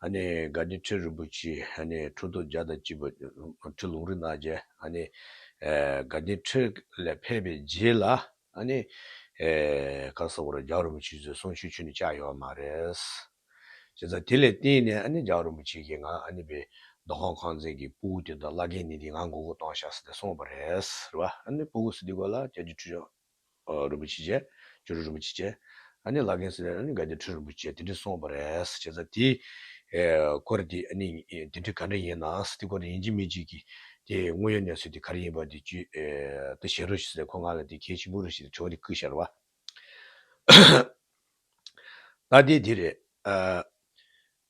སྒ་སྟེ་ཁྲི་རིན་པོ་ཆེའི་ཁྲུ་དོ་བརྒྱ་དང་གཅིག་པ། ཁྲི་ལུང་རིགས་སྣ་བརྒྱད། སྒ་སྟེ་ཁྲི་ལས་ཕེབས་པའི་རྗེས་ལ། བཀའ་ཟབ་བོར་བ་རྒྱལ་བ་རིན་པོ་ཆེ་གཙོས་གསུང་ཆོས་ཆུ་ནས་བཅག་ཡོད་པ་མ་རེད། བྱས་ཙང་དེ་ལས་བརྟེན་ནས་བརྒྱལ་བ་རིན་པོ་ཆེ་གིས་ང་ནི་བའི་རྡོ་ཁང་ཁང་ཚན་གྱི་སྤུ་གུ་དེ་དང་བླ་རྒན་ནི་དེ་ང་མགོ་སྒུར་གཏོང་བཞག་ཟེར་ཏེ་སོང་བ་རེད། སྤུ་གུ་སི་ཏི་གོ་ལ་རྒྱལ་སྤྱིའི་ཁྲུས་ཆང། རིན་པོ་ཆེ་བཅས། ཇོ་རུ་རིན་པོ་ཆེ་བཅས། ཨ་ནི་ལག་གིན་སེ་རེད་ཨ་ནི་དགའ་ལྡན་ཁྲི་རིན་པོ་ཆེ་དེ་འདྲས་སོང་བ་རེད་བྱས་ཙང་དེ། སྐོར་དེ་ཨ་ནི་དེ་འདྲས་ག་འདྲས་ཡིན་ནང་དེ་སྐོར་དེ་ཡིན་གཅིག་མིན་གཅིག་གི། དེ་དངོས་ཡོད་གནས་ཚུལ་དེ་ག་རེ་ཡིན་པ་དེ་བཅུ་ད་བཤད་རོགས་ཞུ་ས་ཁོ་ང་ལ་དེ་གལ་ཆེན་པོ་རེད་ཞེས་དྲི་བ་དེ་བསྐུལ་ཤར་བ། ད་དེ་དེ་རེད།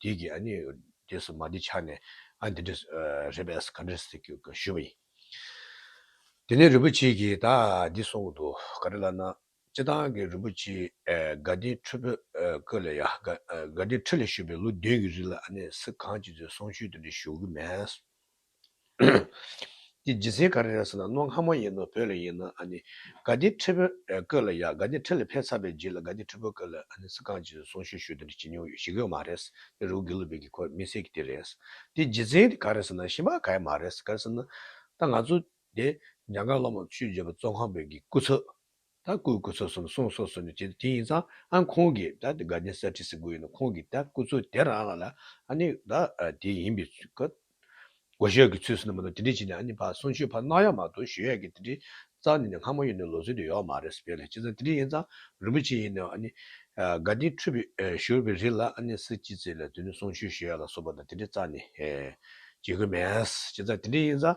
དེ་གིས་ཨ་ནི་རྗེས་སུ་མ་འདི་ཆགས་ནས་ཨ་འདི་འདྲ་རེད་པས་ག་འདྲ་ཟེར་གྱིས་ཞུས་པ་ཡིན། དེ་ནས་རིན་པོ་ཆེ་གིས་ད་འདི་གསུང་གི་འདུག་ག་རེ་ལབ་ན་སྤྱི་བཏང་གི་རིན་པོ་ཆེའི་དགའ་ལྡན་ཁྲི་བོད་སྐོར་ལས་ཡ་དགའ་ལྡན་ཁྲི་ལས་བཤོལ་བའི་ལོ་བདུན་གྱི་རིང་ལ་ཨ་ནི་སི་གང་ཅི་ཚོས་གསུང་ཆོས་དེ་འདྲ་ཞུ་གི་མེད། འདི་ལྗི་སེ་ག་རེ་རེད་ཟེར་ན་རྣོ་སྔ་མོ་ཡིན་ནོ་བོད་ལ་ཡིན་ན་ཨ་ནི་དགའ་ལྡན་ཁྲི་བོས་བསྐོས་ལ་ཡག་དགའ་ལྡན་ཁྲི་ལ་ཕེབས་ཚར་པའི་རྗེས་ལ་དགའ་ལྡན་ཁྲི་བོས་བསྐོས་ལ་ཨ་ནི་ས་ཁང་གཅིག་ཏུ་སོང་ཤུལ་ཤུལ་དེ་འདྲ་བྱེད་མྱོང་ཡོད་ཞི་གོས་མ་རེད་དེ་རུ་གི་ལུ་བེ་གི་ཁོ་མི་སེར་གི་དེ་རེད་འདི་ལྗི་བཙན་གི་ག་རེ་ཟེར་ན་ཤི་མ་གའི་མ་རེད་ག་རེ་ཟེར་ན་ད་ང་ཚོ་དེ་འཇང་དགའ་སློབ་མ་ཆོས་རྗེ་བོ་བཙོན་ཁང་བོད་ཀྱི་སྐུ་ཚབ། ད་སྐུ་སྐུ་ཚོགས་གསུམ་གསུང་སོགས་སོ་ནི་བྱེད་དོ་དེ་ཡིན་ཙང་ཨང་ཁོང་གིས་ད་དགའ་ལྡན་གསར་ཁྲི་ཟེར་དགོས་ཡོད་ན་ཁོང་གིས་ད་སྐུ་ཚོགས་དེ་རང་ལ་ལ་ཨ་ནི་ད་དེ་ཡིན་པའི་སྐབས་སྒོ་ཤོད་ཀྱི་ཚུལ་སོ་ནི་མ་གཏོགས་དེ་འདྲས་བྱས་ནས་ཨ་ནི་བ་གསུང་ཆོས་ཕར་གནང་ཡག་མ་གཏོགས་ཞོལ་ཡག་གི་དེ་འདྲས་རྩ་ནས་ནི་སྔ་མོ་ཡོད་ནི་ལོ་ཚོད་དུ་ཡོག་མ་རེད་བས་ལ་ཅི་ཙང་དེ་འདྲས་ཡིན་ཙང་རིན་པོ་ཆེ་ཡིན་ནི་ཨ་ནི་དགའ་ལྡན་ཁྲོས་པའི་ཞོར་བའི་རིགས་ལ་ཨ་ནི་སེ་ཅི་ཙེ་ལ་དེ་ནི་གསུང་ཆོས་ཞོལ་ཡག་ལ་སོགས་པ་དང་དེ་འདྲས་རྩ་ནས་བྱེད་དགོས་མེད་ཅི་ཙང་དེ་འདྲས་ཡིན་ཙང་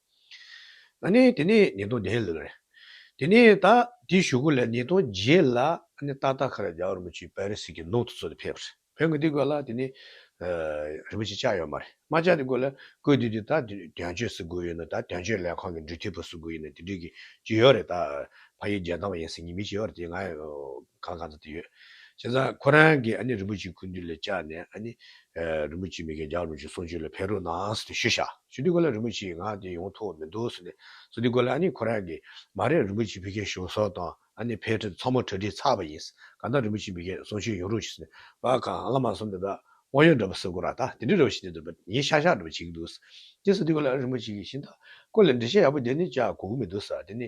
ད་ནི་དེ་ནས་ཉིས་སྟོང་བརྒྱད་ལོར། དེ་ནས་ད་ལྟའི་ཞུ་སྒོ་ལས་ཉིས་སྟོང་བརྒྱད་ལ་ཏག་ཏག་ཁར་རྒྱ་གར་རིན་པོ་ཆེའི་པའི་རི་སི་ཀའི་ནོར་ཐུ་ཚོགས་དེ་ཕེབས་པར་བོད་འགོ་འདི་དགོས་ལ་དེ་ནི། རིན་པོ་ཆེ་ལྕགས་ཡོད་མ་རེད་མ་ལྕགས་དེ་དགོས་ལ་དགོས་དུས་དེ་ད་དོན་གཅོད་སི་དགོས་ཡོད་ན་ད་དོན་གཅོད་ལས་ཁང་གི་འབྲུ་ཐིགས་པ་སི་དགོས་ཡོད་ན་དེ་འབྲུ་གི་ཇི་ཡོད་རེད་ད་ཕ་ཡུལ་རྒྱལ་ཐང་བ་ཡིན་སི་ཉི་མི་ཇི་ཡོད་རེད་དེ་ང་གང་གང་ཙམ་དེ་ཡོད་བྱས་ཙང་ཁོ་རང་གི་རིན་པོ་ཆེའི་ཁུ་འདུས་ལས་བཅག་ནས་རིན་པོ་ཆེ་མི་དགེ་རྒྱག་རུང་ཅིག་གསུང་ཆོས་ལ་ཕན་རུང་ནའང་ཟེར་ཏེ་ཞུས་བཞག་ཞུས་དུས་ཁོ་ལ་རིན་པོ་ཆེའི་ངག་དེ་ཡོང་ཐུབ་བ་མི་འདུག་ཟེར་ནས་སོང་དུས་ཁོ་ལ་ཨ་ནི་ཁོ་རང་གིས་མ་རེད་རིན་པོ་ཆེ་བི་ཁའི་གཞུང་སོགས་དང་ཨ་ནི་ཕའི་ཁྲི་ཚང་མ་གྲ་སྒྲིག་ཚར་བ་ཡིན་གང་ལྟར་རིན་པོ་ཆེ་མི་དགེས་གསུང་ཆོས་ཡོང་རུང་ཅིག་ཟེར་ནས་བ་གང་བླ་མ་གསུམ་དེ་དག་དབང་ཡོད་འདྲ་པོ་ཟེར་དགོ་ར་ད་དེ་འདྲའི་ར་བ་ཞིག་ནས་འདུག་པ་ཉིན་ཤག་ཤག་འདྲ་པོ་བྱེད་ཀྱི་འདུག་ཟེར་ཏེ་ཟེར་དུས་ཁོ་ལ་རིན་པོ་ཆེ་གིས་ཤིང་རྟ་ཀོ་ལེ་འབྲི་བྱེད་ཡག་པོ་དེ་ནི་ཅག་གོ་གི་མི་འདུག་ཟེར་དེ་ནི་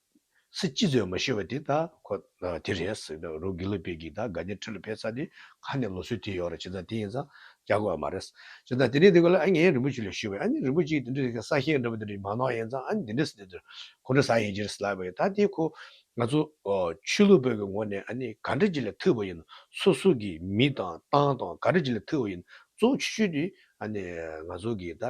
སི་ཅི་ཚོས་མ་ཤེས་པ་དེ་དང་ཁོ་དེ་རེད་ཟེར་གི་འདུག་རུ་གི་ལི་པེ་གིས་ད་ག་ནི་ཁྲི་ལ་ཕེབས་ས་དེ་ག་ནས་ལོ་སུའི་དེ་ཡོད་རེད་བྱས་ཙང་དེ་ཡིན་ཙང་རྒྱག་དགོས་ཨ་མ་རེད། བྱས་ཙང་དེ་ནས་དེ་ག་ལ་ཨ་ངས་རིན་པོ་ཆེ་ལས་ཤེས་བས་ཨ་ནི་རིན་པོ་ཆེ་གི་དེ་འདྲ་གི་ས་ཞིང་འདྲ་པོ་དེ་འདྲ་ཡི་མ་ནོར་ཡིན་ཙང་ཨ་ནི་དེ་འདྲ་ཟེར་དེ་ཁོ་འདྲ་ཟ་ཡིན་ཅི་རེད་ཟེར་ལབ་པ་ཡིན་ད་དེ་ཁོ་ང་ཚོ་ཆོས་ལུགས་བོད་ཀྱི་ངོ་ནས་ཨ་ནི་ག་འདྲ་ཅི་ལས་ཐུབ་པ་ཡིན་སོ་སོ་གི་མི་དང་ཏང་དང་ག་འདྲ་ཅི་ལས་ཐུབ་པ་ཡིན་གཙོ་བོ་ཆོས་ཆོས་དེ་ཨ་ནེ། ང་ཚོ་གིས་ད་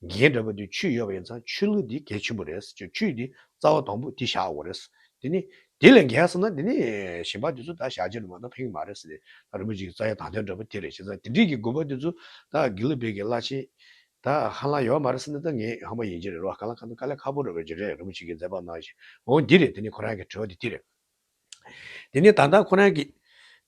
གིན་འདྲ་བ་འདི་ཆུ་ཡོད་པ་ཡིན་ཙང་ཆུ་ལུད་འདི་གལ་ཆེན་པོ་རེད་ཅེས་ཆུ་འདི་རྩ་བ་དང་པོ་འདི་བཞག་དགོས་རེད། དེ་ནི་དེ་ལས་འགལ་ཟེར་ན་དེ་ནི་གཞན་པ་དེ་ཚོ་ད་བཞག་རྗེས་ནས་མ་ཏོག་ཕེང་གི་མ་རེད་ཟེར་ནས་ད་རིན་པོ་ཆེ་གི་རྩ་ཡི་དང་ལྡན་འདྲ་བ་དེ་རེད་བྱས་ཙང་དེ་འདྲིས་ཀྱི་དགོས་པ་དེ་ཚོ་ད་གིན་ལུད་བེད་ཀྱི་བླ་ཆེན་ད་ཧ་ལམ་ཡོད་མ་རེད་ཟེར་ནས་ད་ངས་ཧམ་པ་ཡིན་གྱི་རེད་རོགས་ག་ལ་ག་ནོ་དཀའ་ལས་ཁ་པོ་རེད་བས་ཇི་རེད་རིན་པོ་ཆེ་གིས་མཛད་པ་ནང་བཞིན་འོང་འདི་རེད་དེ་ནི་ཁོ་རང་གི་དྲི་བ་དེ་འདི་རེད། དེ་ནི་ད་ལྟ་ཁོ་རང་གིས་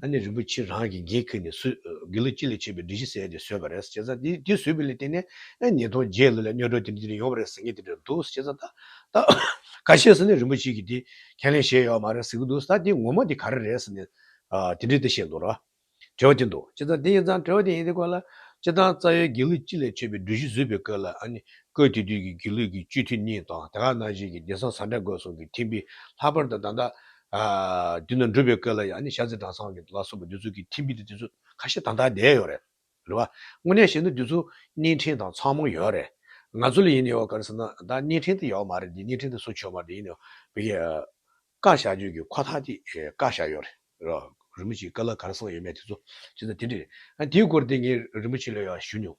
ད་ནི་རིན་པོ་ཆེ་རང་གིས་འགན་ཁུར་ནས་སུས་དགེ་ལུགས་སྤྱི་ལས་བྱེད་པའི་སྒྲིག་གཞི་གསལ་ཏེ་བཟོས་པ་རེད་ཅེས་དེ་དེ་བཟོས་པའི་ལས་དེ་ནས་ཨེ་ཉིས་སྟོང་བརྒྱད་ལོ་ལ་གཉོས་འགྲོ་དེ་རིང་དེ་རིང་ཡོང་བ་རེད་ཟེར་ངེས་དེ་འདྲ་འདུག་ཅེས་ད་ད་ག་བཤད་ཟེར་ནས་རིན་པོ་ཆེ་གིས་དེ་ཁས་ལེན་བྱས་ཡོད་མ་རེད་ཟེར་གྱི་འདུག་ད་དེ་ངོ་མ་དེ་ག་རེ་རེད་ཟེར་ནས་དེ་འདྲས་དེ་བཤད་འདུག་ར། དྲི་བ་དེ་འདུག་ཅེས་དེ་ཡིན་ཙང་དྲི་བ་དེ་ཡིན་དེ་སྐོར་ལ། སྤྱིར་བཏང་རྩ་བའི་དགེ་ལུགས་སྤྱི་ལས་བྱེད་པའི་སྒྲིག་གཞི་བཟོས་པའི་སྐབས་ལ་ཨ་ནི་སྐབས་དེ་དུས་ཀྱི་དགེ་ལུགས་ཀྱི་སྤྱི་འཐུས་གཉིས་དང་དེ་ག་ནང་བཞིན་གྱི་བདེ་གསང་བཟའ་ཟླ་དགོས་གསུང་གིས་ཐིམ་པས་ལྷག་པར་དུ་ད་ལྟ་བདུན་ནི་འགྲུབ་པའི་སྐལ་ལ་ཡང་ནི་ཤར་རྩེ་དྲང་སྲོང་གི་ལ་སོགས་པའི་རྡུལ་ཚུལ་གྱི་ཐིམ་པས་དེ་དུས་ཚོད་ཁ་ཤས་དང་ཐག་བསྡད་ཡོད་རེད། རེད་བ། དངོས་གནས་བཤད་ན་དུས་ཚོད་གཉིས་ཕྲེང་དང་ཚང་མ་ཡོད་རེད། ང་ཚོ་ལ་ཡིན་ཡོད་ག་རེ་ཟེར་ན་ད་གཉིས་ཕྲེང་དེ་ཡོད་མ་རེད་དེ་གཉིས་ཕྲེང་དེ་སུ་ཆོད་མ་རེད་ཡིན་ཡོད་བི་ཀ། བཀའ་བཞག་ཆོས་ཀྱི་ཁོ་ཐག་དེ་བཀའ་བཞག་ཡོད་རེད། རེད་བ། རིན་པོ་ཆེའི་བཀའ་ལ་ག་རེ་གསུངས་ཡོད་མེད་དེ་ཚོ་ཅི་ཟེར་དེ་འདྲ་རེད། ད་དེའི་སྐོར་དེ་ངས་རིན་པོ་ཆེ་ལས་ཡོད་ཞུ་མྱོང།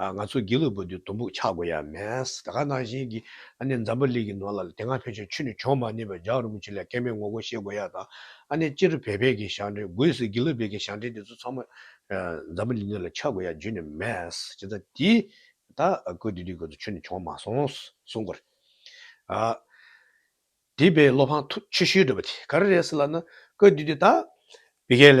ཨ། ང་ཚོ་དགེ་ལུགས་པ་འདི་དུམ་བུར་ཆགས་དགོས་ཡ་མེད། ད་ག་ནང་བཞིན་གྱི་ཨ་ནེ་འཛམ་བུ་གླིང་གི་ནང་ལ་དེ་སྔ་ཕལ་ཆེར་ཆུ་ནི་བྱུང་མ་ནུས་པས་ཇག་རུ་མུ་ཆུ་ལས་སྐལ་མེད་ངོ་རྒོལ་ཤེས་དགོས་ཡ་ད་ཨ་ནེ་སྤྱིར་བལ་བལ་གྱི་ཞང་བྲན་གོས་སི་དགེ་ལུགས་བལ་གྱི་ཞང་བྲན་འདི་ཚོ་ཚང་མ་འཛམ་བུ་གླིང་ནང་ལ་ཆགས་དགོས་ཡ་རྒྱུ་ནི་མེད། ཅི་ད་དེ་ད་ཀོས་དེ་དུས་ཁོ་ཚོ་ཆུ་ནི་བྱུང་མ་སོང་གསུང་དགོས་རེད་ཨ། དེ་བས་བློ་ཕངས་ཐུགས་ཆེ་ཤོས་འདྲ་བ་དེ་ག་རེ་རེད་ཟེར་ལབ་ན་ཀོས་དེ་དུས་ད། བལ་གལ།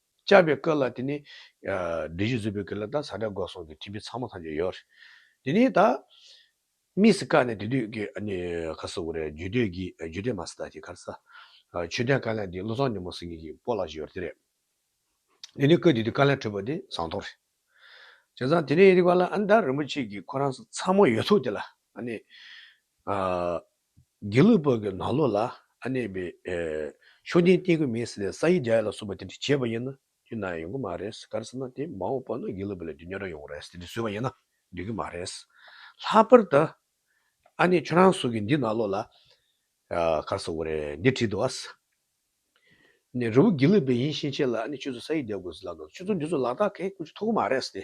བཅའ་བའི་སྐོར་ལ་དེ་ནི། བདུད་བཞི་བཟོད་པའི་སྐོར་ལ་དང་ཟ་འདྲེ་འགོག་སྲུང་གི་ཁྲིམས་དཔེ་ཚང་མ་ཐམས་ཅད་ཡོད། དེ་ནས་ད། དམིགས་སུ་བཀར་ནས་དེ་དུས་ཀྱི་ཨ་ནི། ཁ་སོ་བོ་རེད་རྒྱུད་སྟོད་ཀྱི་རྒྱུད་སྟོད་མ་སི་ཏག་གི་ཁར་ས། ཆོས་ལྡན་བཀའ་ལན་འདི་བློ་བཟང་ཉི་མ་སེང་གེ་ཀྱི་པོ་ལགས་ཀྱི་ཡོར་དེ་རེད། དེ་ནས་ཀོས་དེ་དུས་བཀའ་ལན་ཕྲོས་པ་དེ་ཟངས་ཐོག་རེད། བྱས་ཙང་དེ་ནས་རིག་པ་ལ་ཨ་མདའ་རིན་པོ་ཆེ་གི་ཁོ་རང་ས་ཚང་མ་ཡོད་ཐུག་དེ་ལ་ཨ་ནི། དགེ་ལུགས་སྤོས་ཀྱི་ནང་ལོགས་ལ་ཨ་ནེ་བའི་མཆོད་རྟེན་བརྟེན་དགོས་མིན་ཟེར་ནས་ས་ཡི་རྒྱ་ཡིག་ལ་སོགས་པ་དེ་འདྲ་བྱས་པ་ཡིན་ན་དུས་ནའང་ཡོང་གི་མ་རེད་ག་རེ་ཟེར་ན་དེ་མ་འོངས་པ་ན་དགེ་ལུགས་པ་ལས་དུས་ཉོ་ར་ཡོང་རེད་དེ་འདྲ་བཟོས་པ་ཡིན་ན་འགྲིག་གི་མ་རེད། ལྷག་པར་དུ་ཨ་ནེ་ཁྱོད་རང་གསུང་གི་འདི་ནང་ལོགས་ལ་ག་རེ་ཟེར་བ་རེད་འདི་བྲིས་འདུག་ཨ། ནེ་རི་བོ་དགེ་ལུགས་པའི་ཡིན་ཕྱིན་ཆད་ལ་ཨ་ནེ་ཁྱོད་ཚོ་ས་ཡིག་རྒྱ་དགོས་ཟེར་ལབ་ན་ཁྱོད་ཚོ་འདི་ཚོ་ལག་རྟགས་གས་ཀུན་ཆུ་འཐོག་གི་མ་རེད་དེ།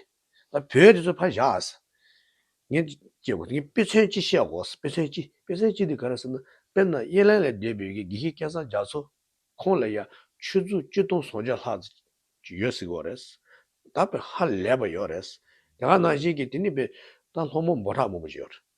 ད་བོད་དེ་ཚོ་ཕར་བཞག། ངས་ཀྱི་གོ་ངས་དཔེ་མཚོན་གཅིག་བཤད་གོ། དཔེ་མཚོན་གཅིག་དཔེ་མཚོན་གཅིག་དེ་ག་རེ་ཟེར་ན། དཔེར་ན་དབྱི་ལན་ལས་སྡོད་པའི་དགེ་བཤེས་སྐལ་བཟང་རྒྱ་མཚོ། ཁོང་ལ་ཡང་ཆུ་ཚོད་བཅུ་སྟོང་སོ་བརྒྱ་ལྷག་ཙམ་ཡོད་སྲིད་གོ་རེད། ད་དཔེ་ཧ་ལས་པ་ཡོད་རེད། དེ་ག་ནང་བཞིན་གྱི་དེ་ནི་དཔེ་ད་ལྷོ་མོ་འབོ་ཁྲག་མང་པོ་ཞིག་ཡོད་རེད།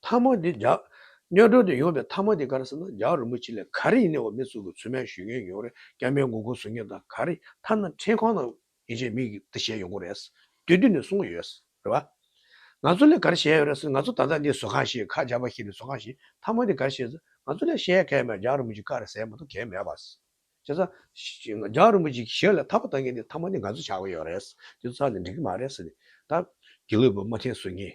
ཐ་མག་འདི་རྒྱག། སྨྱོ་སྒྲོ་དེ་ཡོང་པའི་ཐ་མག་འདི་ག་རེ་ཟེར་ན་རྒྱག་རིན་པོ་ཆེ་ལས་ག་རེ་ཡིན་ནའི་འོ་མའི་ཚུལ་གྱི་ཚོད་སྨན་ཞུས་མཁན་ཡོང་རེད་སྐྱ་མའི་མགོ་ཁུངས་བཟོ་མཁན་དང་ག་རེ་ཐ་ན་འཕྲེད་ཁང་ནང་ཡིན་ཆད་མིག་གིས་བལྟས་ཞེས་ཡོང་གི་རེད་དུས་དུས་ནས་གསུང་གི་ཡོད་རེད་བ། ང་ཚོ་ལས་ག་རེ་བཤད་ཡོད་རེད་ཟེར་ང་ཚོ་ད་ལྟ་འདི་བཟོ་ཁང་ཞིག་ཁ་རྒྱག་པ་ཞིག་རེད་བཟོ་ཁང་ཞིག་ཐ་མག་འདི་ག་རེ་བཤད་ཟེར་ང་ཚོ་ལས་བཤད་ཡ་གལ་མེད་རྒྱག་རིན་པོ་ཆེ་ག་རེ་ཟེར་མ་གཏོགས་གལ་མེད་བ། བྱས་ཙང། རྒྱག་རིན་པོ་ཆེ་གཞི་ལ་ཐར་པ་བཏང་མཁན་འདི་ཐ་མག་འདི་ང་ཚོ་ཆགས་ཀྱི་ཡོད་རེད་དེ་ཚོ་ཚར་ནས་འགྲིག་གི་མ་རེད་ཟེར་ནས་ད། དགེ་ལུགས་པའི་དམའ་ཐན་བཟོ་མཁན།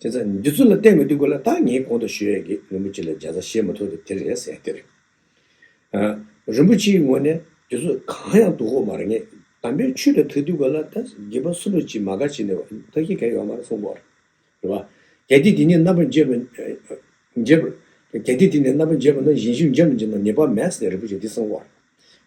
དེ་ཚ་འདི་ཚུར་ལ་བསྟན་མི་འདུག་གོ་ལ་ད་ངས་གོང་དུ་ཞུས་ཡས་ཀྱི་རིན་པོ་ཆེ་ལ་འཇའ་ཚ་ཞེས་མ་ཐུག་སྟེ་དེ་རེད་ཟེར་ཡས་དེ་རེད། རིན་པོ་ཆེའི་ངོ་ནས་དེ་ཚོ་གང་ཡང་འདུག་གོ་མ་རེད་ངས་དམ་པའི་ཆོས་ལ་ཐུག་འདུག་གོ་ལ་ད་དགེ་བ་སུ་ལོ་ཅིག་མ་ག་ཅིག་ནས་ད་ཤི་ག་ཡོག་མ་རེད་གསུངས་གོ་རེད་བ། གལ་ཏེ་དེ་ནས་རྣམ་པར་འབྱེད་པ་འབྱེད་པར་གལ་ཏེ་དེ་ནས་རྣམ་པར་འབྱེད་པ་ན་བཞིན་བཞུགས་འཇམ་ལ་འཇིགས་ན་ཉེས་པ་མེད་ཟེར་རིན་པོ་ཆེ་འདིས་གསུངས་གོ་རེད།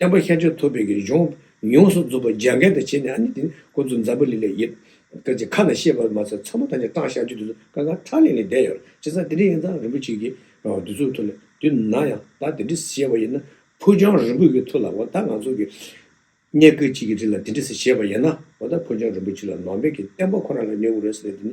བསྟན་པ་ཤར་ཕྱོགས་ཐུབ་པའི་གཞུང། ཡོངས་སུ་རྫོགས་པའི་རྒྱ་མཁན་དུ་བྱས་ནས་ཨ་ནི་དེ་ཀོ་ཙུ་འཛམ་བུ་ལི་ལས་ཡིན། སྐད་ཅིག་ཁ་ན་ཤེས་པར་མ་ཟད་ཚོན་པོ་དང་ནི་སྐྲངས་ཤར་རྒྱུད་དུ་ཀ་ཁ་ཁྲག་ལིང་ལིང་བསྡད་ཡོད། སྤྱིར་ཚང་དེ་འདྲའི་ཡིན་ཙང་རིན་པོ་ཆེ་གི་བསྡུས་ཚུལ་ཐུགས་ལ་བསྡུས་ན་ཡང་བདག་དེ་འདྲི་ཞེས་པ་ཡིན་ན། ཕུ་ཆང་རིན་པོ་ཡི་ཐུགས་ལ་འོ་ད་ང་ཚོ་གི་གཉེན་སྐུ་གཅིག་གི་རིགས་ལ་དེ་འདྲི་ཟེར་ཞེས་པ་ཡིན་ན་འོ་ད་ཕུ་ཆང་རིན་པོ་ཆེ་ལ་ནང་པའི་གི་བསྟན་པ་ཁོ་རང་ལ་ཉེ་བོ་རེད་ཟེར་ནས་དེ་ནི་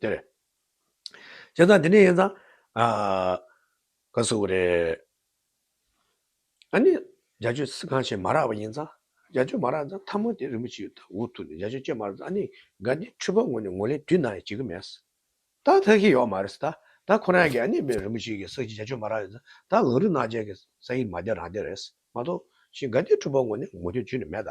དེ་རེད། བྱས་ཙང་དེ་ནས་ཡིན་ཙང། ག་ཟེར་བ་རེད། ཨ་ནི་རྒྱ་ཆོས་སི་ཁང་ཆེན་མ་རག་པ་ཡིན་ཙང། རྒྱ་ཆོས་མ་རག་ཙང་ཐ་མ་དེ་རིན་པོ་ཆེའི་འུ་ཐུག་ནས་རྒྱ་ཆོས་བཅད་མ་རག་ཙང་ཨ་ནི་ག་འདི་འཁྲུལ་པ་ངོ་ནས་ངོ་ལེ་དུས་ནང་ཡང་བྱེད་ཀི་མེད། ད་ཐག་གི་ཡོག་མ་རེད་ད་ད་ཁོ་རང་གི་ཨ་ནི་མེ་རིན་པོ་ཆེ་གི་སག་ཅིག་རྒྱ་ཆོས་མ་རག་ཡིན་ཙང་ད་ལག་རི་ནག་ཅན་གི་སག་ཡིན་མ་དེ་རང་དེ་རེད་མ་གཏོགས་ཤིང་ག་འདི་འཁྲུལ་པ་ངོ་ནས་ངོ་དུས་བྱེད་ནི་མེད་ད།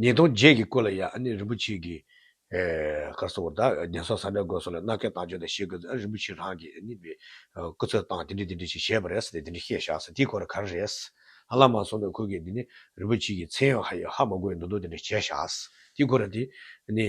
ཉིས་སྟོང་བརྒྱད་ཀྱི་སྐོར་ལ་ཡང་ཨ་ནེ་རིན་པོ་ཆེས་ཀྱིས། སྐར་ཚོགས་བར་དག་ཉེན་སོགས་ཟབ་མོའི་སྒོས་སོགས་ལ་མནའ་གན་དང་བརྗོད་དང་བཤད་སྐོར་དུ་ཨ་རིན་པོ་ཆེས་རང་གིས་ཨ་ནེ་བའི་སྐུ་ཚབ་སྟངས་དེ་འདྲི་དེ་འདྲི་ཞིག་བྱས་པ་རེད་ཟེར་ཏེ་དེ་འདྲི་བཤད་བཞག་ཟེར་དེའི་སྐོར་ལ་ག་རེ་རེད་ཟེར་ཧ་ལམ་མ་སོང་བས་ཁོས་ཀྱིས་འདི་ནི་རིན་པོ་ཆེ་ཀྱིས་མཚན་ཡང་ཧ་ཡིག་ཧ་མ་གོ་བའི་འདུག་འདུག་དེ་འདྲ་བྱས་བཞག་ཟེར་དེའི་སྐོར་ལ་དེ་ནི།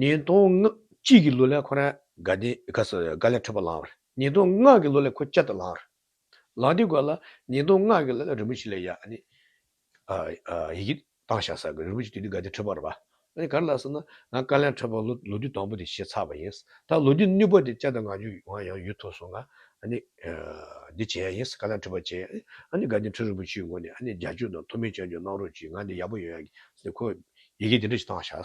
ཉིས་སྟོང་ལྔ་གཅིག་གི་ལོ་ལས་ཁོ་རང་དགའ་ལྡན་དགའ་ལས་འཕྲོད་པ་ལངས་བར། ཉིས་སྟོང་ལྔ་གི་ལོ་ལས་ཁོ་སྐྱ་ལྟ་ལངས། ལངས་དེ་གོ་ལ་ཉིས་སྟོང་ལྔ་གི་ལོ་ལས་རིན་པོ་ཆེ་ལས་ཡ་ཨ་ནི། ཡི་གེ་བཏང་བཞག་ས་གི་རིན་པོ་ཆེ་དུས་དུས་དགའ་ལྡན་འཕྲོད་པར་བ། ཨ་ག་རེ་ལ་ཟེར་ན་ང་དཀའ་ལས་འཕྲོད་པ་ལོ་ལོ་དུས་དང་པོ་དེ་བྱས་ཚར་བ་ཡིན། ད་ལོ་དུས་གཉིས་པ་དེ་སྐྱ་ལྟ་ང་རྒྱུ་ཡང་ཡང་ཡོད་ཐུག་སོང་ང་ཨ་ནི། འདི་བྱས་ཡ་ཡིན་དཀའ་ལས་འཕྲོད་པ་བྱས་ཡ་ཨི་ཨ་ནི་དགའ་ལྡན་འཕྲོད་རིན་པོ་ཆེའི་ངོ་ནས་ཨ་ནི་རྒྱ་ཆོས་དང་མཐོ་དམན་བཅར་འཇོག་གནང་རོགས་གྱིས་ང་འདི་ཡག་པོ་ཡོད་ཡ་གི་ཟེར་ནས་ཁོས་ཡི་གེ་འདི་འདྲ་ཞིག་བཏང་བཞག།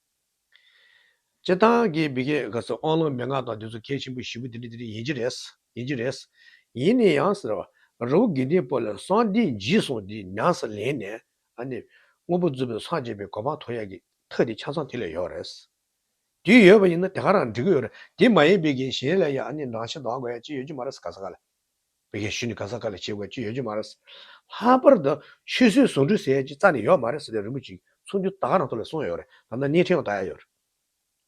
སྤྱིར་བཏང་གི་མི་སྐད་ག་ཚོད་ཨང་ལོ་མན་ངག་དང་དུས་ཚོད་ཁས་ཆེན་པོ་བཞི་པོ་འདི་རེད་འདི་རེད་ཡིན་གྱི་རེད། ཡིན་གྱི་རེད། ཡིན་ནི་ཡང་ཟེར་བ། རི་བོ་དགེ་འདུན་སྤོ་ལ་སང་འདི་འཇིགས་སོང་འདི་ཉག་ཟེར་ལེན་ནས། ཨ་ནི། དངོས་པོ་རྫུན་པོའི་སངས་རྒྱས་པའི་གོ་འཕང་ཐོབ་ཡག་གི་ཐག་དེ་ཆ་ཚང་དེ་ལས་ཡོག་རེད། དུས་ཡོད་པ་ཡིན་ན་དེ་ག་རང་འགྲིག་གི་ཡོག་རེད་དེ་མ་ཡིན་པའི་གིན་གཞན་ལས་ཡག་ཨ་ནི་ནང་བཞིན་དོ་ཨ་གོ་ཡག་ཅི་ཡོད་ཀྱི་མ་རེད་ས་ག་ས་ག་ལ། བོད་རྒྱལ་ཞུས་ནི་གང་ཟག་ག་ལས་བྱེད་དགོས་ཅི་ཡོད་རྒྱུ་མ་རེད། ལྷག་པར་དུ་ཆོས་སྲིད་ཟུང་འབྲེལ་ཟེར་གྱི་རྩ་ནས་ཡོད་མ་རེད་ཟེར་ཏེ་རིན་པོ་ཆེའི་གསུང་རྒྱུ་དག་ནང་དོ་ལས་གསུངས་ཡོད་རེད་དམ་ན་སྙན་ཁྲིད་ཡང་དག་ཡག་ཡོད་རེད།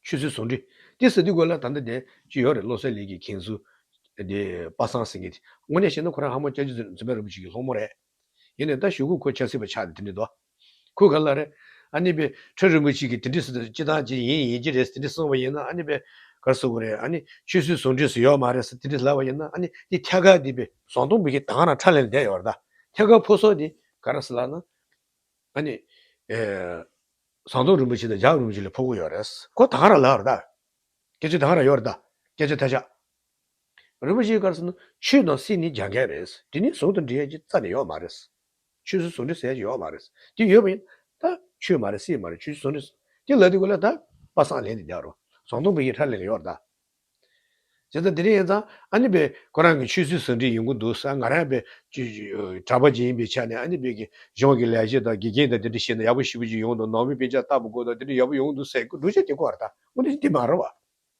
ཆོས་སྲིད་ཟུང་འབྲེལ་དེ་ཟེར་དུས་དགོས་ལ་ད་ལྟ་དེ་ཅི་ཡོད་རེད་བློ་གསལ་ལེགས་ཀྱིས་མཁྱེན་ཟུར་དེ་དཔག་བསམ་ཟེར་མཁན་དེ་དངོས་གནས་བཤད་ན་ཁོ་རང་ཧ་མོ་སྐྱ་རྒྱུ་འཛིན་པའི་རིན་པོ་ཆེ་གི་སློང་མོ་རེད། ཡིན་ནས་ད་ཞུ་གུ་ཁོ་ཆགས་སྲིད་པ་ཆགས་ཏེ་དེ་འདྲི་དོ། ཁོས་ག་ལ་རེད། ཨ་ནི་པེ་ཁྲོད་རིན་པོ་ཆེ་གིས་དེ་འདྲི་སྲིད་དོ་སྤྱི་བཏང་ཅི་ཡིན་ཡིན་གྱི་རེད་དེ་འདྲི་སོང་བ་ཡིན་ན་ཨ་ནི་པེ་གར་སོ་གི་རེད་ཨ་ནི་ཆོས་སྲིད་ཟུང་འབྲེལ་སུ་ཡོག་མ་རེད་དེ་འདྲི་སླ་བ་ཡིན་ན་ཨ་ནི་ཏི་ཐྱ་ག་དེ་པེ། ཟོང་སྟོང་བུ་གི་དང་ར་ཁྲ་ལེན་བསྡད་ཡོག་རེད་ད་ཐྱ་ག་ཕོ་སོག་དེ་ག་ར་སི་ལ་ན། ཨ་ནི། ཟངས་སྟོང་རིན་པོ་ཆེ་དང་འཇག་རིན་པོ་ཆེ་ལས་ཕོ་གོ་ཡོག་རེད་ཁོ་དང་ར་ལ་རེད་ད། སྐད་ཆ་དང་ར་ཡོག་རེད་ད་སྐད་ཆ་ཐ་ཆག། རིན་པོ་ཆེའི་སྐར་ཚོགས་ནི་ཆོས་དང་སྲིད་ནི་རྒྱ་འགལ་རེད། དེ་ནི་ཟུང་དུ་འབྲེལ་ཡོད་ཀྱི་རྩ་ནས་ཡོད་མ་རེད། ཆོས་སྲིད་ཟུང་འབྲེལ་ཟེར་ཡ་ཞིག་ཡོད་མ་རེད། དེ་ཡོད་པ་ཡིན་ད། ཆོས་མ་རེད་སྲིད་མ་རེད་ཆོས་སྲིད་ཟུང་འབྲེལ། དེ་ལ་དེ་དགོས་ལ་ད། པ་སངས་ལེན་དེ་རྒྱག་རོགས། ཟངས་སྟོང་བུ་ཡིས་ཁྲག་ལེན་ལེན་ཡོད་རེད་ད། བྱས་ཙང་དེ་འདྲ་ཡིན་ཙང་ཨ་ནེ་པེ་ཁོ་རང་གི་ཆོས་སྲིད་ཟུང་འབྲེལ་ཡིན་གྱི་འདུག་ས་ང་རང་པེའི་གྲྭ་པ་ཅིག་ཡིན་པའི་ཆ་ནས་ཨ་ནེ་པེ་གི་གཞུང་གི་ལས་བྱེད་དང་དགེ་རྒན་དང་དེ་འདྲ་བྱས་ན་ཡག་པོ་ཞིབ་པོ་ཅིག་ཡོང་འདུག་ནང་པའི་དཔེ་ཆ་ལྟ་བུ་དགོས་དང་དེ་འདྲ་ཡག་པོ་ཡོང་གི་འདུག་ཟེར་གྱི་འདུག་བྱས་དེ་གོ་རེད་ད། འོན་ཏེ་དེ་མ་རེད་བ།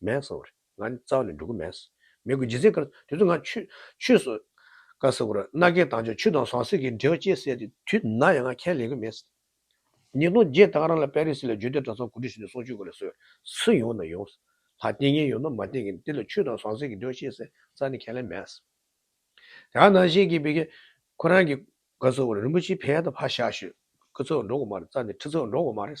མེད། ས་བར། ང་ནི་རྩ་བ་ནས་འགྲོ་གི་མེད། མེད་དགོས་རྗེས་ཚེ། དེ་ཚོ་ང། ཆུད་སོ། ཀ་ས་བར། སྣ་རྒས་དྭངས་ཆུ་ཆུ་དང་ཟངས་གསེར་གྱི་འབྲེལ་བ་བཅས་བསལ་ཏེ་དུས་ན་ཡང་ང་ཁས་ལེན་གི་མེད། ཉིས་སྟོང་བརྒྱད་ད་ག་རང་ལ་པེ་རི་སི་ལ་རྒྱུད་སྡེ་གྲྭ་ཚང་གོ་སྒྲིག་བྱས་ནས་སོང་ཆུད་དགོས་ལ་སོས་སུ་ཡོང་ན་ཡོང། ལ་བསྟེན་གིན་ཡོད་ན་མ་བསྟེན་གིན་དེ་ལ་ཆུ་དང་ཟངས་གསེར་གྱི་འབྲེལ་བ་བཅས་བསལ་རྩ་ནས་ཁས་ལེན་མེད། དེ་ག་ནང་བཞིན་གྱི་བི་གེ། ཁོ་རང་གིས། ཀ་ས་བར་རིན་པོ་ཆེའི་ཕའི་ད་ཕ་ཤ་ཤོད། ཀི་ཚོད་འགྲོ་གི་མ་རེད་རྩ་ནས་ཁྲི་ཚོད་འགྲོ་གི་མ་རེད།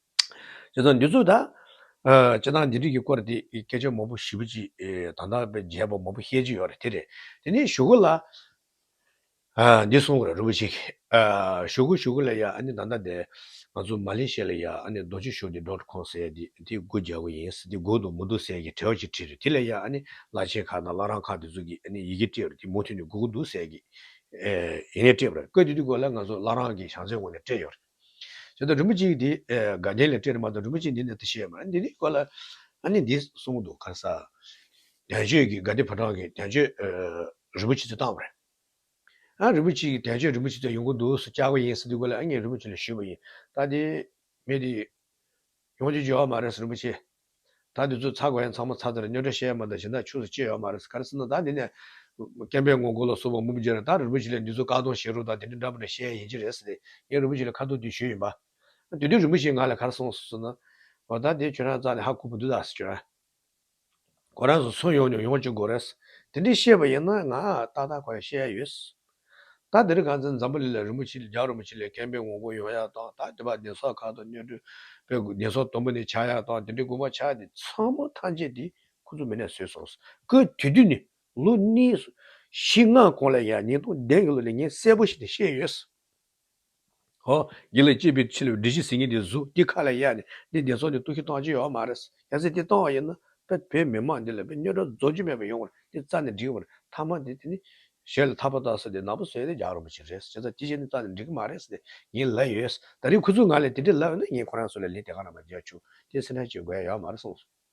ཅེས་དང། འདི་ཚོ་ད། སྤྱིར་བཏང་འདི་རིགས་ཀྱི་སྐོར་དེ་སྐད་ཆ་མང་པོ་བཞི་པོ་ཅི། དང་ཐོག་པའི་རྒྱས་པ་མང་པོ་བཤད་ཀྱི་ཡོད་རེད་དེ་རེད། དེ་ནས་ཞུ་གུ་ལ། འདི་གསུང་གི་རེད་རི་བོ་ཆེ་གིས། ཞུ་གུ་ཞུ་གུ་ལ་ཡ་ཨ་ནི་ད་ལྟ་འདི། ང་ཚོ་མ་ལེ་ཤེ་ལ་ཡ་ཨ་ནི་རྡོ་རྗེ་ཞུ་བདེ་དོར་ཁོང་ཟེར་དེ་དེ་དགུ་རྒྱག་གི་ཡིན་ཟེར་དེ་གུག་དང་མུ་འདུག་ཟེར་གྱི་བྲེལ་བ་ཅིག་བྲིས་རེད་དེ་ལ་ཡ་ཨ་ནི་བླ་ཆེན་ཁག་དང་བླ་རང་ཁག་དེ་ཚོ་གིས་ཨ་ནི་ཡི་གེ་སྤྲད་རེད་དེ་མུ་མཐུད་ནས་གུག་གི་འདུག་ཟེར་གྱི། ཡིན་ནས་སྤྲད་པ་རེད་ཀོས་དེ་དུས་གོ་ལ་ང་ཚོ་བླ་རང་གི་བྱང་ཚད་ངོས་ནས་སྤྲད་ཡོད་རེད། བྱས་ཏེ་རིན་པོ་ཆེའི་དེ་དགའ་ལྡན་ལས་སྤྲས་ནས་མ་དང་རིན་པོ་ཆེ་འདི་ནི་དེ་ཤེས་པ་འདི་ནི་གོ་ལ། ཨ་ནི་འདི་གསུངས་འདུག་གང་ཟག། དལ་ཆོས་ཀྱི་དགའ་བདེ་ཕོ་བྲང་གི་དལ་ཆོས་རིན་པོ་ཆེ་ཚོས་བཏང་བ་རེད། ཨ་རིན་པོ་ཆེ་ཀྱི་དལ་ཆོས་རིན་པོ་ཆེ་ཚོས་ཡོང་གི་འདུག་སུ་བཅག་པ་ཡིན་ཟེར་དུས་གོ་ལ་ཨ་ངས་རིན་པོ་ཆེ་ལ་ཞུས་པ་ཡིན་ད་དེ་མི་དེ་ཡོང་རྒྱུ་བརྗོད་ཨ་མ་རེད་ཟེར་རིན་པོ་ཆེས། ད་འདི་ཚོ་ཚ་གོ་ཡང་ཚང་མ་ཚ་ཚ་རེད་སྨྱོ་སྒྲ་བཤད་ཡ་མ་གཏོགས་གཞན་དག་ཆུ་སོ་ཅི་ཡོད་མ་རེད་ས་ག་རེ་སེམས་ན་ད་འདི་ནས། སྐྱེམས་པའི་ངོ་གོ་ལ་སོགས་པ་མུ་མཇེ་རེད་ད་རི་བོ་ཆེ་ལས་འདི་ཚོ་བཀག་སྡོམ་བཞེས་རོགས་དང་དེ་འདྲ་འདྲ་པོ་འདྲ་བཤད་ཡ་ཡིན་གྱི་རེད་ཟེར་ཏེ་ངས་རི་བོ་ཆེ་ལ་ཁ་ཐུག་དུས་ཞུས་ཡིན་པ། དུས་དུས་རི་བོ་ཆེས་ང་ལ་ག་རེ་གསུང་སོང་ཟེར་ན། འོ་ད་འདི་ཁྱོད་རང་ཙང་ནས་ཧ་གོ་བུ་འདུག་ད་ཟེར་གྱི་རེད། ཁོ་རང་ཚོ་ཚུར་ཡོང་མྱོང་ཡོང་གཅིག་དགོས་རེད། དེ་འདྲས་བཤད་པ་ཡིན་ན་ང་ཏག་ཏག་ཁོ་ཡང་བཤད་ཡ་ཡོད། ད་འདིར་གངས་ཅན་འཛམ་བུ་གླིང་ལ་རིན་པོ་ཆེ་རྒྱ་རིན་པོ་ཆེ་ལས་མཁན་པོའི་ངོ་རྒོལ་ཡོང་ཡག་དང་ད་འདི་བར་བདེན་སོགས་ཁག་ཏུ་སྨྱོ་སྤྲོད་པའི་བདེན་སོགས་དུམ་བུ་ནས་ཆགས་ཡག་དང་དེ་འདྲའི་དགོས་པ་ཆགས་དེ་ཚང་མ་ཐམས་ཅད་དེ་ཁོ་ཚོ་མི་ནས་བཟོས་སོང་སྐུ་དུས་དུས་ནས་ལོ་གནས་བཞི་ལྔ་གོང་ལ་ཡང་ཉིས་སྟོང་བདུན་གྱི་ལོ་ནས་ངས་གསལ་པོ་ཞིག་ནས་བཤད་ཡོད། ཧོ། འདི་ལ་སྐྱེས་པའི་ཕྱིར་འདྲེ་བཞི་ཟིན་གྱི་འདི་གཟུགས་འདི་ཁ་ལ་ཡ་ནི་འདི་བདེ་སོགས་འདི་སྟོང་ཤིག་སྟོང་ཅི་ཡོད་མ་རེད། གལ་སྲིད་འདི་སྟོང་བ་ཡིན་ན་དཔེར་བོད་མི་མང་འདི་ལ་དཔེ་རྙོག་དྲ་རྫོགས་རྒྱུ་མེད་པ་ཡོང་བར་འདི་རྩ་ནས་འགྲིག་བར་ཐ་མ་འདི་དེ་ནི། ཞལ་ལ་ཐག་པ་བཏགས་ས་དེ་ནག་པོ་བཟོས་ནས་རྒྱག་རོགས་པ་ཅིག་རེད་བྱས་ཙང་དེ་བཞིན་ནི་རྩ་ནས་འགྲིག་གི་མ་རེད་ཟེར་ནས་ངའི་ལབ་ཡོད། ད་རེས་ཁོ་ཚོའི་ངག་ལས་དེ་འདྲས་ལབ་ཡོད་ན་ངས་ཁོ་རང་ཚོ་ལ་ལན་དེ་ག་རང་མ་རྒྱག་ཆུག་དེ་སེམས་ཁྲལ་བྱེད་དགོས་ཡོད་མ་རེད་གསུངས་སོང།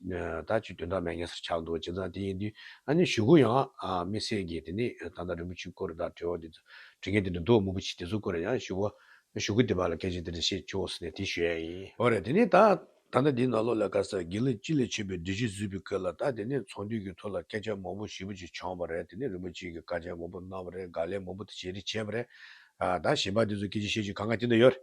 ད་ཅིག་དོན་དག་མེད་ངན་སར་ཆགས་འདུག་ཇི་ཙམ་དེ་ཡིན་དུས་ཨ་ནེ་ཞུ་གུ་ཡང་དམིགས་བསལ་གྱིས་དེ་ནས་ད་ལྟ་རིན་པོ་ཆུའི་སྐོར་དང་དྲི་བ་དེ་ཚོ་དྲི་ངེས་དེ་འདྲ་འདུག་དམུ་བུ་ཆེ་དེ་ཚོ་སྐོར་ཡང་ཞུ་བ་ཞུ་གུ་དེ་བ་ལ་སྐད་ཆ་དེ་འདྲ་བཤད་ཆོག་ཟེར་ནས་དེ་ཞུ་ཡ་ཡིན། འོ་རེད་དེ་ནས་ད་ད་ལྟ་དེའི་ནང་ལོག་ལ་དཀར་གསལ་དགེ་ལེགས་སྤྱི་ལས་ཆོས་པའི་བདུད་བཞི་བཟོས་པའི་སྐོར་ལ་ད་དེ་ནས་ཚོང་དུས་ཀྱི་ཐོག་ལ་སྐད་ཆ་མང་པོ་ཞེ་བུ་ཅིག་བྱང་བ་རེད་དེ་ནས་རིན་པོ་ཆེ་གི་བཀའ་ཆད་མང་པོ་གནང་བ་རེད་དགག་ལས་མང་པོ་དེ་བྱས་རེད་བྱས་པ་རེད་ད་གཞན་པ་དེ་ཚོ་སྐད་ཆ་བཤད་ཆོག་ག་འགའ་དེ་འདྲ་ཡོད་རེད་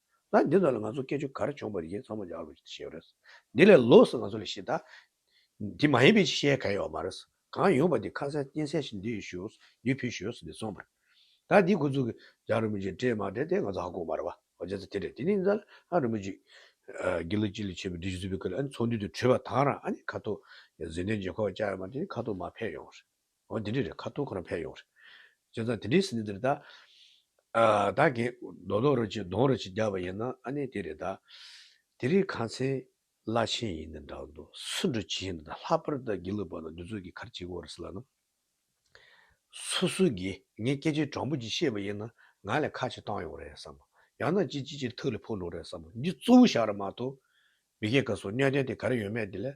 ན་འདི་ཙམ་ལ་ང་ཚོ་སྐད་ཆོ་གར་བྱོང་པ་རེད་ཅེས་མཚང་མ་རྒྱག་རོགས་ཞེས་ཞེས་རེད། འདི་ལས་ལོགས་སུ་ང་ཚོ་ལ་ཞེ་ད། འདི་མ་ཡིན་པའི་ཅིག་བཤད་ག་ཡ་བ་མ་རེད། གང་ཡོང་པ་དེ་ཁ་གསལ་གཏིང་གསལ་ཞིག་འདི་ཡོད་ཞོས་སུ་འདི་ཕུད་ཞོས་སུ་འདི་ཚོང་པར། ད་འདི་ཁོ་ཚོ་གིས་རྒྱག་རིན་པོ་ཆེ་སྤྲད་མ་སྤྲད་དེ་ང་ཚོ་ཧ་གོ་མ་རེད་བ། ཨོ་རྒྱལ་རྩེ་དེ་རེད་དེ་ནི་རྫ་ལྷ་རིན་པོ་ཆེ། དགེ་ལེགས་སྤྱི་ལ་ཆས་པའི་འདི་བཞིན་བཟོས་པའི་སྐུ་ལ་ཨ་ནི་ཚོགས་འདུས་དུ་བྲོས་པ་དང་རང་ཨ་ནི་ཁ་ཐོག། གཟི་ལྡན་རྗེ་ཁོག་བཅག་ཡོད་མ་དེ་ནི་ཁ་ཐོག་མ་ཕེབས་ཡོང། འོ་དེ་འདྲས་རེད་ཁ་ཐུག་ཁོ་རང་ཕེབས་ཡོང་རེད། བྱས་ཙང་དེ་འདྲས་ཟིན་ནས་དེ་རེད་ད། བདག་གིས་རྡོག་རྡོག་རེ་གཅིག་གདོང་རེ་གཅིག་རྒྱག་པ་ཡིན་ན་ཨ་ནི་དེ་རེད་ད། དེ་རིང་ཁང་ཚན་བླ་ཆེན་ཡིན་ནི་འདྲ་འདུག་སུ་འགྲོ་ཇི་ཡིན་ད་ལྷག་པར་དུ་དགེ་ལུགས་པ་ན་འདི་ཚོ་གི་གར་གཅིག་གོ་རེ་ཟེར་ལ་ན། སུ་སུ་གིས་ངའི་སྐད་ཆའི་དྲང་པོ་གཅིག་ཤེས་པ་ཡིན་ན་ང་ལས་ཁ་གཅིག་བཏང་ཡོང་རེད་བསམ་མོ། ཡང་ན་ཅི་ཅི་ཅིར་ཐུགས་ལས་ཕུག་ལོག་རེད་བསམ་མོ་འདི་གཙོ་བོ་བཞག་ར་མ་ཐུག། མི་སྐད་ཀ་སོགས་གནད་དོན་དེ་ག་རེ་ཡོད་མེད་དེ་ལས་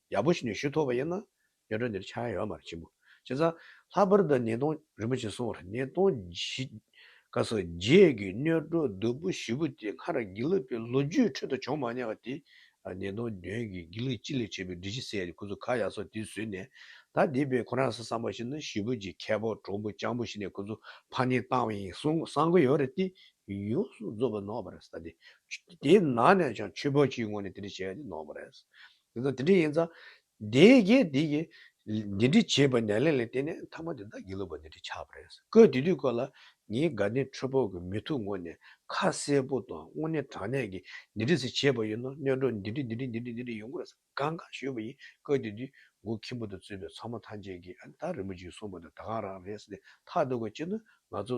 ཡག་པོ་ཞིག་ནས་ཞུ་ཐུབ་པ་ཡིན་ན། སྐྱོན་བྲལ་འདིར་ཆགས་ཡོད་མར་ཆེན་པོ། ཁྱེད་ཚང། ལྷག་པར་དུ་ཉིས་སྟོང། རིན་པོ་ཆེ་སོགས་ཉིས་སྟོང། བཞིསྐབས་སུ་རྗེས་ཀྱི་སྨྱོ་སྒྲོ་རྡོལ་པོ་བཞི་པོ་དེ་སྔར་དགེ་ལུགས་པའི་ལོ་རྒྱུས་ཁྲོད་དུ་བྱུང་མ་མྱངས་པ་དེ། ཉིས་སྟོང་བདུན་གྱི་དགེ་ལུགས་སྤྱི་ལས་བྱེད་པའི་སྒྲིག་གཞི་གསལ་ཏེ་ཁོ་ཚོ་ཁ་ཡག་སོགས་དེ་བཟོས་ནས། ད་དེ་བས་ཁོ་རང་ས་བསམ་པ་ཞིག་ནི་བཞི་པོ་གྱི་ཁལ་པོ་གྲོང་པོ་སྤྱང་པོ་ཞིག་ནས་ཁོ་ཚོ་ཕར་ཉིན་བཏང་བ་ཡིན་བསམ་གི་ཡོད་རེད་དེ། ཡོངས་སུ་རྫོགས་པའི་ནོར་བ་རེད་ས་དེ། དེའི་ནང་ནས་ཀྱང་ཆོས་པོ་གཅིག་ངོ་ནས་དེ་འདྲ་བྱས་ཏེ་ནོར་བ་རེད། ཡིན་ན་དེ་འདྲ་ཡིན་ཙང། དེའི་རྗེས་དེ་ཡིས། འདི་འདྲི་བྱས་པ་ནས་ལན་ལན་བལྟས་ནས་མཐའ་མ་དེ་དག་གིས་ལོ་པ་འདི་འདྲི་ཆགས་པ་རེད་ཟེར་ཀོས་དེ་དུས་ཀོས་ལ། ངའི་དགའ་ལྡན་ཁྲོད་ཕོག་གི་མི་ཐུག་ངོ་ནས་ཁ་གསལ་པོ་དང་དངོས་གནས་དྲང་གནས་ཀྱི་འདི་འདྲི་ཟེར་བྱས་པ་ཡིན་ན་གནས་གྲོགས་འདི་འདྲི་འདི་འདྲི་འདི་འདྲི་འདི་འདྲི་ཡོང་གི་རེད་ཟེར་དགའ་དགའ་ཞུས་པ་ཡིན་ཀོས་དེ་དུས་མགོ་ཁྱིམ་པོ་དུ་བཙུད་པའི་ཚོགས་མ་ཐམས་ཅད་ཀྱིས་ཨ་ནི་ད་རིན་པོ་ཆེའི་གསུངས་པ་དེ་ད་གང་རང་རེད་ཟེར་ནས་ཐག་གཏོད་དགོས་ཅི་ནུས་ང་ཚོ།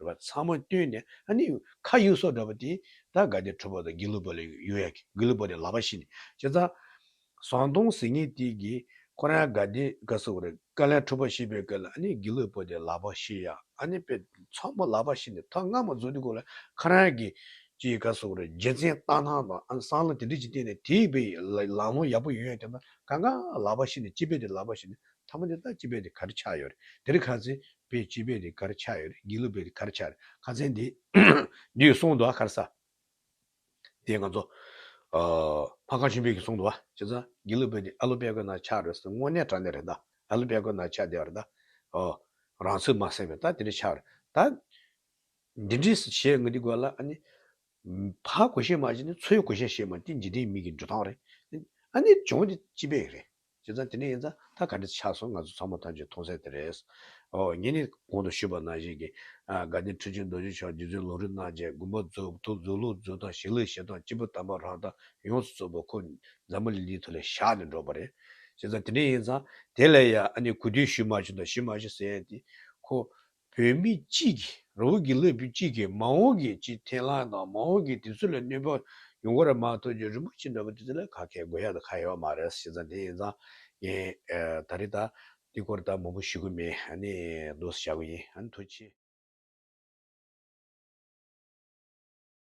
རེ་བ་ཚང་མ་བཏོན་ནས་ཨ་ནི་ཁ་གཡུག་སོགས་འདྲ་པོ་དེ་ད་ག་དེ་ཁྲོ་བོ་དང་དགེ་ལུགས་པ་ལ་ཡོད་ཡ་གི་དགེ་ལུགས་པ་དེ་ལག་པ་བཤིག་ནས་ཅི་ཙང། ཟངས་སྟོང་ཟེར་ངེས་དེ་གི་ཁོ་རང་ག་དེ་ག་སུ་རེད་ཀ་ལན་ཁྲོ་བོ་བཤིག་པའི་སྐད་ལ་ཨ་ནི་དགེ་ལུགས་པོ་དེ་ལག་པ་བཤིག་ཡ་ཨ་ནི་དཔེ་ཚོགས་མོ་ལག་པ་བཤིག་ནས་ཐོག་སྔ་མོ་རྫོགས་དུས་གོ་ལ་ཁ་རང་གི་ཅི་ག་སུ་རེད་རྗེ་བཙན་སྟག་སྣང་དང་ཨ་ནི་སང་ལོ་དེ་འདྲི་ཅིག་བལྟས་ནས་དེ་ཡི་པའི་ལང་ལོང་ཡག་པོ་ཡོད་ཡ་དེ་ད་ག་ག་ལག་པ་བཤིག་ནས་སྤྱི་དཔེ་དེ་ལག་པ་བཤིག་ནས་ཐ་མ་དེ་ད་སྤྱི་དཔེ་དེ་ག་རེ་ཆགས་ཡོད་རེད་དེ་རི་ག་ཚེ་པའི་སྤྱི་པའི་རིགས་གར་ཆགས་ཡོད། སྒྱིད་ལུག་པའི་རིགས་གར་ཆགས་ཡོད། ཁ་མཚན་དེ། འདུས་སྲོང་དུ་བ་གར་ས། དེ་ང་ཚོ། ཕ་གང་ཆུན་བེད་ཀྱི་སྲོང་དུ་བ། ཅེས་ས། སྒྱིད་ལུག་པའི་རིགས་ཨ་ལོ་པད་གོས་ནང་ཆགས་རེད་ས། དངོས་གནས་དྲ་གནས་རེད་ད། ཨ་ལོ་པད་གོས་ནང་ཆགས་བསྡད་པ་རེད་ད། ཨོ། རང་ཚུགས་མ་སེམས་པས་ད་དེ་འདྲ་ཆགས་རེད་ད། འདི་འདྲི་ས་བྱས་ང་འདི་དགོས་ལ་ཨ་ནི། ཕའི་གོ་ཞེས་མ་བྱས་ནི་ཚོའི་གོ་ཞེས་བྱས་མ་དེ་འཇིག་རྟེན་མིག་གི་འགྲོ་སྟངས་རེད། ཨ་ནི་ལྗོངས་འདི་སྤྱི་པའི་རེད། བྱས་ཙང་དེ་འདྲ་ཡིན་ཙང་ད་ག་འདྲ་ཆགས་སོང་ང་ཚོ་ཚང་མ་ཐམས་ཅད་མཐོང་གསལ་དེ་རེད། ཨོ་ངེད་ནི་གོང་དུ་ཞུས་པ་ནང་བཞིན་གྱི། དགའ་ལྡན་ཁྲི་ཆེན་རྡོ་རྗེ་མཆོག་རྗེ་བཙུན་ལུང་རིག་གནང་བཅས་དགོན་པ་རྫོགས་ཐུབ་རྫོགས་ལུགས་རྫོགས་དང་ཞིང་ལས་བྱེད་སྟངས་སྤྱི་པོ་དམ་པ་རང་དང་ཡོངས་སུ་རྫོགས་པ་ཁོ་རྫ་མ་ལི་ལི་ཐོ་ལས་བཞག་ནས་འགྲོ་བ་རེད། བྱས་ཙང་དེ་འདྲ་ཡིན་ཙང་དེ་ལས་ཡང་ཨ་ནི་གུས་འདུད་ཞུས་མ་ཞུ་དང་ཞུས་མ་ཞུ་ཟེར་ཡས་དེ། ཁོ། བོད་མི་སྤྱི་ཀྱི་རང་ངོས་ཀྱི་བློས་བོད་སྤྱི་ཀྱི་མ་འོངས་ཀྱི་སྤྱི་འཐེན་ལ་དང་མ་འོངས་ཀྱི་དུས་ཚོད་ལ་གནོད་པ་ཡོང་གོ་ར་མ་ཐོག་རྗེ་རིན་པོ་ཆེ་འདྲ་བོ་དེ་ཚོ་ལ་ཁ་ཁད་དགོས་ཡ་ད་ཁ་ཡོད་མ་རེད་ཟེར་ཙང་དེ་ཡིན་ཙང་ངས་ད་རེ་ད་འདི་སྐོར་ད་མང་པོ་ཞུ་གི་མེད་ཧ་ནི་ལོས་བྱ་གི་ཡིན་ཧ་ནི་ཐུགས་ཆེ།